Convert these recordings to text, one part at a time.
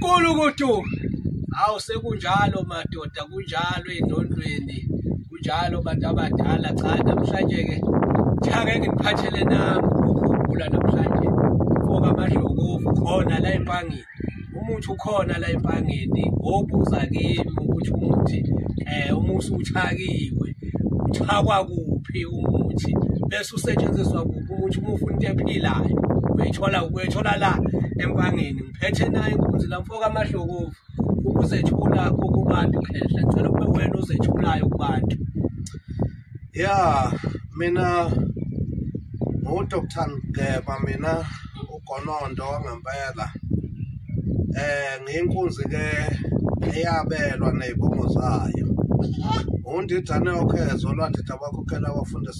Kulu kutu awu sekunjalo madoda kunjalo endondweni kunjalo bantu abadala cha namhlanje ke cha ngeke ngiphathele nami ukugula namhlanje ngoba amadlokovu khona la empangeni umuthi ukhona la empangeni obuza kimi ukuthi umuthi eh umuthi uthakiwe uthakwa kuphi umuthi bese usetshenziswa ukuthi uma ufuna into ephilayo uyithola uyithola la empangeni ngiphethe naye inkunzi la mfoka amahlokovu ukuzethula kubantu khehla ngicela kube wena ozethulayo kubantu ya mina ngu-dr ngeba mina ugonondo wangempela eh ngiyinkunzi ke eyabelwa nezibongo zayo undidane okhezo lwadida bakhokhela abafundisi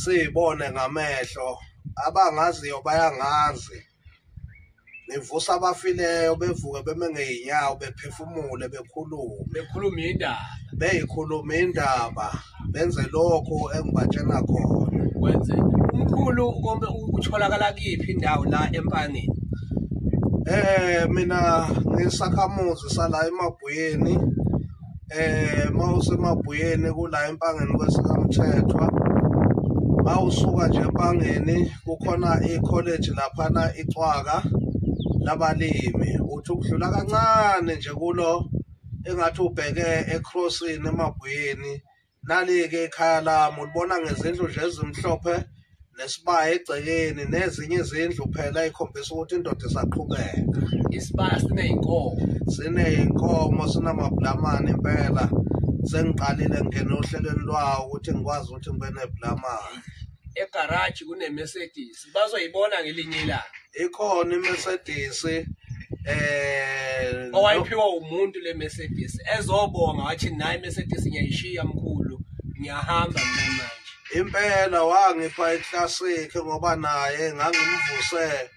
siyibone ngamehlo abangaziyo bayangazi nivusa abafileyo bevuke beme ngey'nyawo bephefumule bekhulume bekhuluma indaba beyikhuluma indaba benze lokhu engibatshena khona kwenze umkhulu konke utholakala kiphi indawo la empangeni eh mina ngisakhamuzi sala emabhuyeni eh mawusemabhuyeni kula empangeni kwesikamthethwa mawusuka nje empangeni kukhona i-college laphana icwaka labalimi uthi ukudlula kancane nje kulo engathi ubheke ecrossini emabhuyeni Nali-ke ikhaya lami ulibona ngezindlu nje ezimhlophe nesibaya egcekeni nezinye izindlu phela ikhombisa ukuthi indoda isaqhubeka isibaya siney'nkomo siney'nkomo sinamabhulamane impela sengiqalile ngingena ohlelweni lwawo ukuthi ngikwazi ukuthi ngibe nebhulamane egaraji kunemercedes bazoyibona ngelinye ilanga ikhona iMercedes eh owayiphiwa umuntu le Mercedes ezobonga wathi nayi Mercedes ngiyayishiya mkhulu ngiyahamba mina manje impela wangipha iclassic ngoba naye ngangimvuse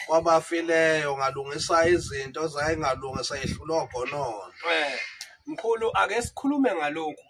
kwabafileyo ngalungisa izinto zayengalungi sayehlulwa gonono eh, mkhulu ake sikhulume ngalokhu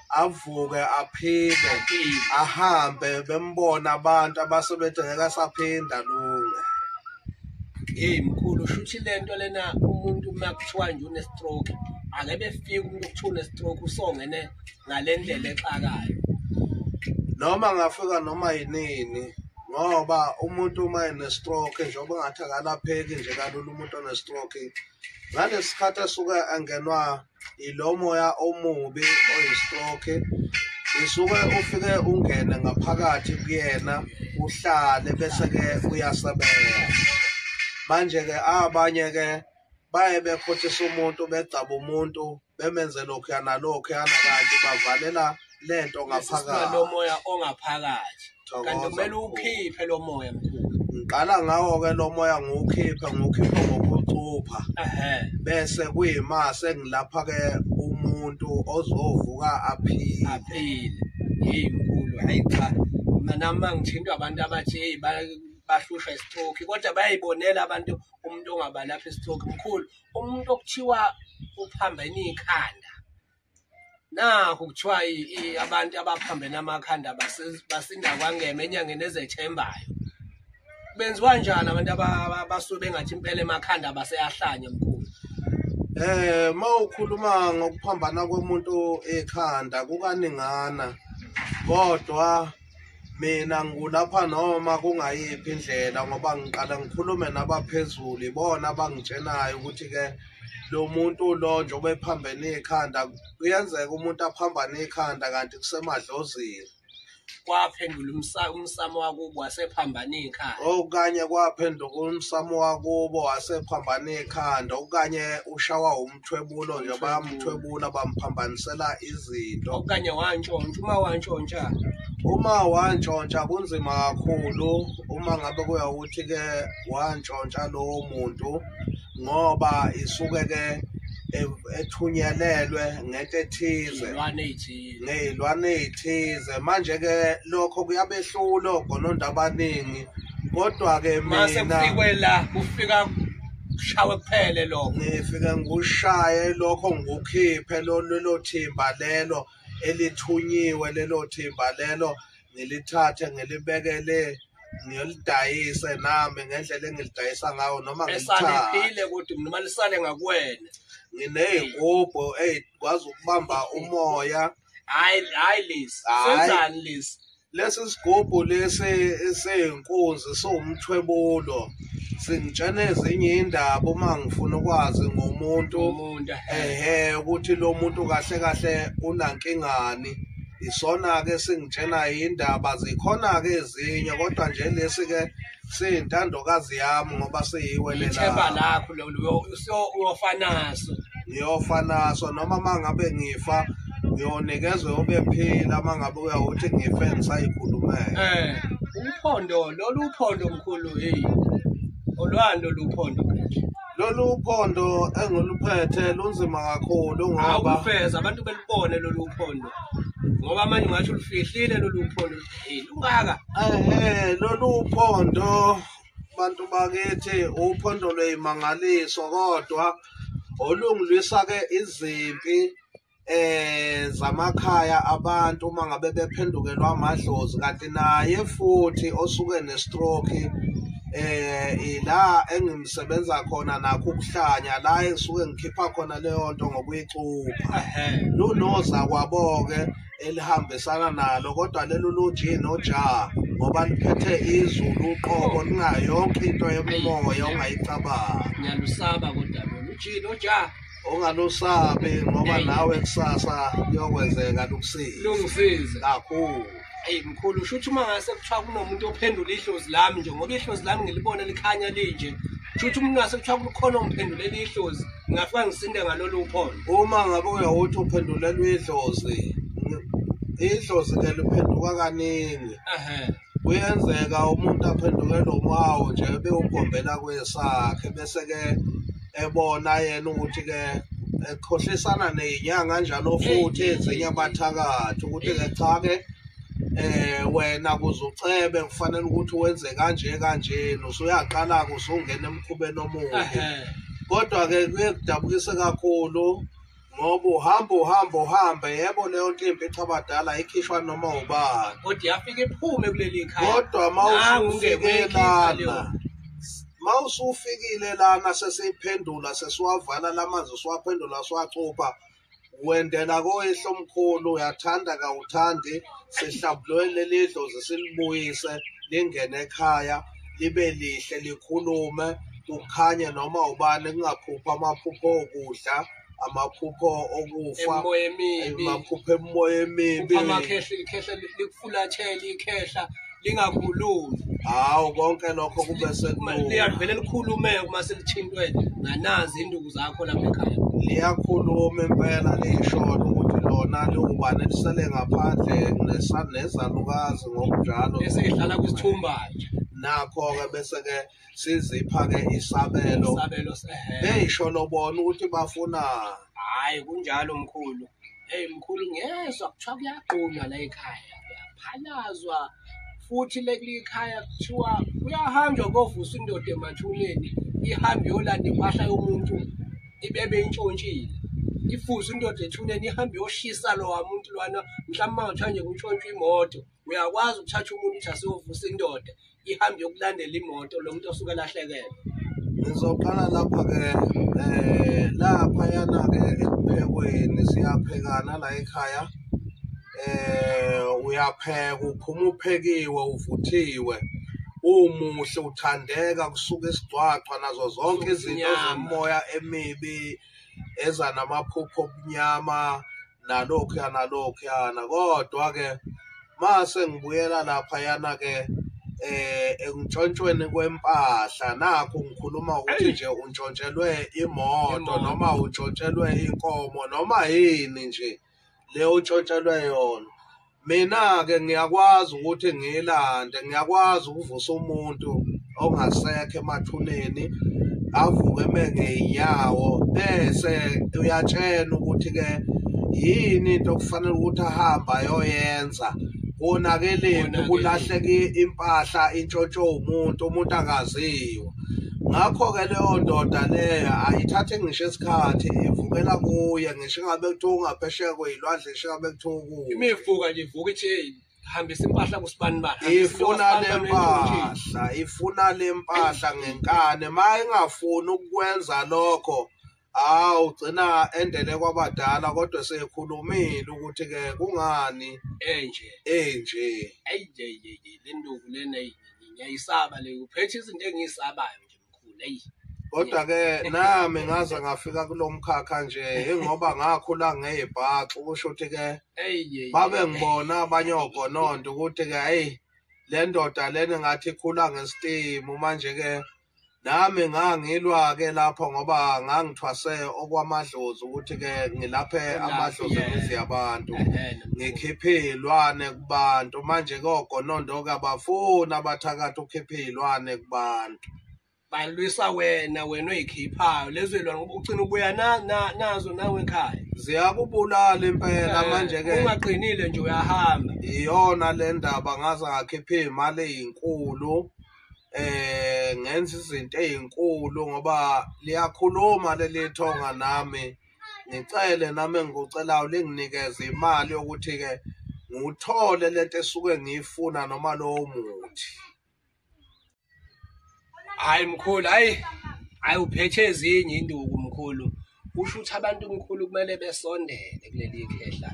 avuke aphile ahambe bembona abantu abasebethi ngeke asaphinde alunge hey mkhulu shuthi lento lena umuntu uma kuthiwa nje unestroke ake befike umuntu okuthiwa unestroke usongene ngale ndlela exakayo noma ngafika noma yinini ngoba umuntu uma enestroke njengoba ngathi akalapheki nje kalula umuntu onestroke ngalesi sikhathi asuke angenwa ilo moya omubi oyistroke isuke ufike ungene ngaphakathi kuyena uhlale bese-ke uyasebenza manje-ke abanye-ke baye bekhothisa umuntu begcaba umuntu bemenze lokhuya nalokhuya nakanti bavalela lento ngaphakathi lomoya ongaphakathi kanti kumele ukhiphe lo moya mkhulu ngiqala ngawo-ke lo moya ngiwukhiphe ngiwukhiphe ngokucupha bese kuyima sengilapha-ke umuntu ozovuka aphile aphile yeyi mkhulu hayi cha nami mangithintwa abantu abathi yeyi bahlushwa istroke kodwa bayayibonela abantu umuntu ongabalapha istroke mkhulu umuntu okuthiwa uphambene ikhanda nakho kuthiwa abantu abaphambene amakhanda basinda kwangema enyangeni ezethembayo benziwa njani abantu abasuke bengathi impela emakhanda baseyahlanya mkhulu eh mawukhuluma ngokuphambana komuntu ekhanda kukaningana kodwa mina ngulapha noma kungayiphi indlela ngoba ngiqala ngikhulume nabaphezulu ibona abangitshenayo ukuthi-ke lo muntu lo njengoba ephambene ikhanda kuyenzeka umuntu aphambane ikhanda kanti kusemadlozini kwaphendula umsamo wakubo wasephambana ikhanda okanye kwaphenduka umsamo wakubo wasephambana ikhanda okanye ushawa umthwebulo nje bayamthwebula bamphambanisela izinto okanye wantshontsha uma wantshontsha uma wantshontsha kunzima kakhulu uma ngabe kuya ukuthi ke wantshontsha lowo muntu ngoba isuke ke ethunyelelwe ngento ethize ngey'lwane ey'thize manje-ke lokho kuyabehlula ogononda abaningi kodwa-ke mina kufika kushawe kuphele lokho ngifike ngikushaye lokho ngikukhiphe lelo thimba lelo elithunyiwe lelo thimba lelo ngilithathe ngilibekele ngiyolidayise nami ngendlela engilidayisa ngawo noma ngisalephile kodwa mina malisale ngakuwena nginey'ngubho ey'kwazi ukubamba umoya hayi hayi lesi Hhayi. senzani lesi lesi sigubhu lesi seyinkunzi siwumthwebulo singitshena ezinye indaba uma ngifuna ukwazi ngomuntu umuntu ehe ukuthi lo muntu kahle kahle unankingani isona-ke singitshena indaba zikhona-ke ezinye kodwa nje lesi-ke siyintandokazi yami ngoba siyiwelela lakho uyofa naso ngiyofa naso noma uma ngabe ngifa ngiyonikezwe ube phila uma ngabe uyawuthi ngife ngisayikhulumele um eh, uphondo lolu phondo mkhulu heyi olwani lolu phondo lolu phondo engiluphethe lunzima kakhulu ngoba awufeza abantu belubone lolu phondo ngoba manje ungasho ulifihlile lolu phondo hey lungaka eh lolu phondo bantu bakithi uphondo lweyimangaliso kodwa olungilwisa ke izimpi eh zamakhaya abantu uma ngabe bephendukelwa amadlozi kanti naye futhi osuke nestroke eh ila engimsebenza khona nakho ukuhlanya la esuke ngikhipha khona leyo nto ngokuyicupha lunoza kwaboke elihambisana nalo kodwa lelo loji noja ngoba liphethe izulu uqobo lingayo yonke into yomoya ongayicabanga ngiyalusaba kodwa loji noja ongalusabi ngoba nawe kusasa kuyokwenzeka lukusize lungisize kakhulu eyi mkhulu shuthi uma ngase kuthiwa kunomuntu ophendula ihlozi lami nje ngoba ihlozi lami ngilibona likhanya linje shuthi umuntu ngase kuthiwa kukhona ongiphendulela ihlozi ngingafika ngisinde ngalolu uphondo uma ngabe uyawuthi uphendulelwa idlozi idlozi ke liphenduka kaningi kuyenzeka umuntu aphendukelwe umawo nje bewugombela kwesakhe bese-ke ebona yena ukuthi-ke ekhohlisana ney'nyanga njalo futhi ezinye abathakathi ukuthi-ke cha-ke eh wena kuze ucebe kufanele ukuthi wenze kanje kanje usuyaqala ke usungena emkhubeni omuhle kodwa ke kuye kudabukise kakhulu ngoba uhamba uhamba uhamba yebo leyo nto imbi cha abadala ikhishwa noma ubani kodwa yafika iphume kuleli khaya kodwa mawufike lana mawusufikile lana sesiphendula sesiwavala lamanzi siwaphendula siwacupha wendela koyihlo omkhulu uyathanda kawuthandi sihlambulwe leli dlozi silibuyise lingene ekhaya libe lihle likhulume kukhanye noma ubani kungaphupha amaphupho okudla amaphupho okufa amaphupho emoya emibi amakhehla ikhehla likufulathela ikhehla lingakhulumi hawu konke lokho kube sekuliyavele likhulume uma selithintwe nganazi induku zakho lapha ekhaya liyakhuluma impela lisholo ukuthi lona liwubani elisele ngaphandle nesanezalukazi ngokunjalo esidlala kwisithumba nje nakho-ke bese-ke sizipha ke isabelo isabelo sehele beyisho lobona ukuthi bafuna hayi kunjalo mkhulu hey mkhulu ngezwa kuthiwa kuyaqunywa la ekhaya kuyaphalazwa futhi lekulikhaya kuthiwa kuyahanjwa kovusa indoda emathuneni ihambe yolanda impahla yomuntu ibebe intshontshile ifuze indoda ethuneni ihambe yoshisa lowa muntu lwana mhlawumbe mangathiwa nje kuntshontshwa imoto uyakwazi ukuthatha umuntu ukuthi asiyovusa indoda ihambe yokulandela imoto lo muntu osuke lahlekele ngizoqala lapha-ke um eh, laphayana-ke ekuphekweni siyaphekana la ekhaya um uyapheka uphuma uphekiwe uvuthiwe umuhle uthandeka kusuka isigcwagcwa nazo zonke izinto zomoya emibi eza namaphupho obumnyama nalokhuya nalokhuyana kodwa-ke mase ngibuyela laphayana-ke eh entshontshweni kwempahla nakho ngikhuluma ukuthi nje untshontshelwe imoto noma untshontshelwe inkomo noma yini nje le untshontshelwe yona mina-ke ngiyakwazi ukuthi ngiyilande ngiyakwazi ukuvusa umuntu ongasekho emathuneni avuke eme ngey'nyawo bese uyatshena ukuthi-ke yini into okufanele ukuthi ahambe ayoyenza konakeleni kulahleke impahla intshontsho umuntu umuntu akaziwa ngakho-ke leyo ndoda leyo ayithathe ngisho isikhathi ivukela kuye ngisho ingabe kuthiwa ungaphesheya kweyilwandle ngisho ingabe kuthiwa imivuka nje ivuka ichain hambisa impahla kusibani bani ifuna lempahla ifuna lempahla ngenkane mayingafuni ukwenza lokho hawu ugcina endele kwabadala kodwa sekhulumile ukuthi ke kungani enje enje ayije yeke lenduku lena ngiyayisaba le uphethe izinto engiyisabayo kodwa ke nami ngaze ngafika kulomkhakha nje ingoba ngakhula ngeyibhaxu kusho ukuthi ke babe ngibona abanye ogononto ukuthi ke hey le ndoda lena ngathi ikhula ngestimu manje ke nami ngangilwa ke lapho ngoba ngangithwase okwamadlozi ukuthi ke ngilaphe amadlozi ngizi abantu ngikhiphe ilwane kubantu manje kogonondo kabafuni abathakathi ukhiphe iy'lwane kubantu balwisa wena wena oyikhiphayo lezo ylwane ngoba ugcina ubuya nazo nawe ekhaya ziyakubulala impela eh, manje ke ungaqinile nje uyahamba iyona le ndaba ngaze ngakhiphe iy'mali ey'nkulu eh ngenza izinto ezinkulu ngoba liyakhuluma leli thonga nami ngicele nami engikucelayo linginikeze imali yokuthi-ke ngiwuthole lento esuke ngiyifuna noma lowo muthi hayi mkhulu hayi hayi uphethe ezinye induku mkhulu kusho ukuthi abantu mkhulu kumele besondele kuleli khehla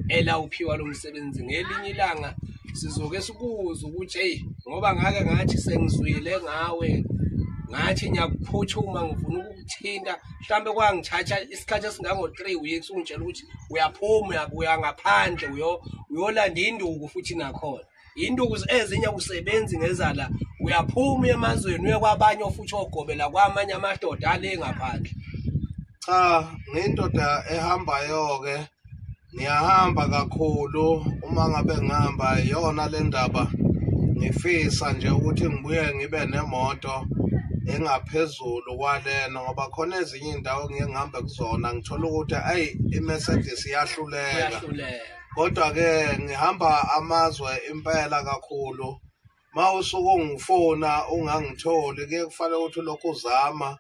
elawuphiwa lo msebenzi ngelinye ilanga sizoke sikuze ukuthi eyi ngoba ngake ngathi sengizwile ngawe ngathi ngiyakuphuthuma ngifuna ukukuthinta mhlawumbe kwangithatha isikhathi esingango-three weeks ungitshela ukuthi uyaphuma uya ngaphandle uyolanda induku futhi nakhona induku ezinye usebenzi ngezala uyaphuma uye emazweni uye kwabanye ofuthi ogobela kwamanye amadoda ale ngaphandle cha ngindoda ehambayo-ke ngiyahamba kakhulu uma ngabe ngihamba iyona le ndaba ngifisa nje ukuthi ngibuye ngibe nemoto engaphezulu kwalena ngoba khona ezinye iy'ndawo ngiye ngihambe kuzona ngithole ukuthi ayi i-mercedes iyahluleka kodwa-ke ngihamba amazwe impela kakhulu ma usuke ungifona ungangitholi kuye kufanele ukuthi ulokhu uzama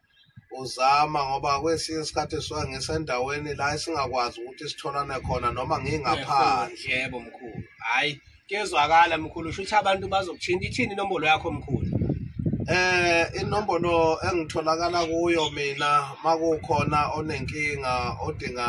uzama ngoba kwesinye isikhathi suke ngisendaweni la esingakwazi ukuthi sitholane khona noma ngingaphandle yebo mkhulu hayi kuyezwakala mkhulu usho ukuthi abantu bazokuthinta ithini inombolo yakho mkhulu eh inombolo engitholakala kuyo mina makukhona onenkinga odinga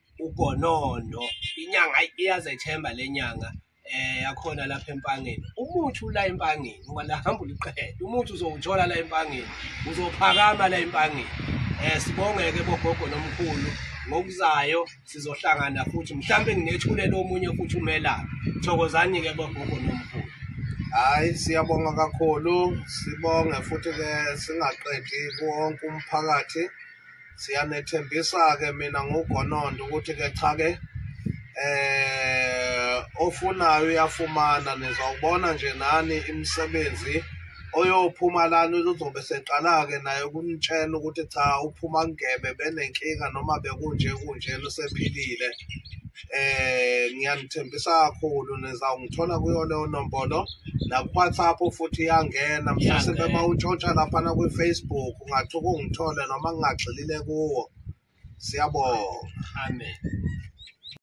ugonondo inyanga iyazethemba lenyanga eh yakhona lapha empangeni umuthi ula empangeni ngoba la hamba uliqhele umuthi uzowuthola la empangeni uzophakama la empangeni eh sibongeke bogogo nomkhulu ngokuzayo sizohlangana futhi mhlawumbe nginethulele omunye futhi umelaphi thokozani ke bogogo nomkhulu hayi siyabonga kakhulu sibonge futhi ke singaqedi konke umphakathi siyanethembisa-ke mina ngugonondo ukuthi-ke cha-ke eh ofunayo uyafumana nizawubona nje nani imisebenzi oyophuma lana uzobe seqala-ke naye ukunitshela ukuthi cha uphuma ngebe benenkinga noma bekunje kunje lusephilile eh ngiyanithembisa kakhulu nizawungithola kuyo leyo nombolo naku-whatsapp futhi iyangena mhlawumbe Iyangena. uma untshontsha laphana kwi-facebook ungathi ukungithole noma ngingagxilile kuwo siyabonga Amen.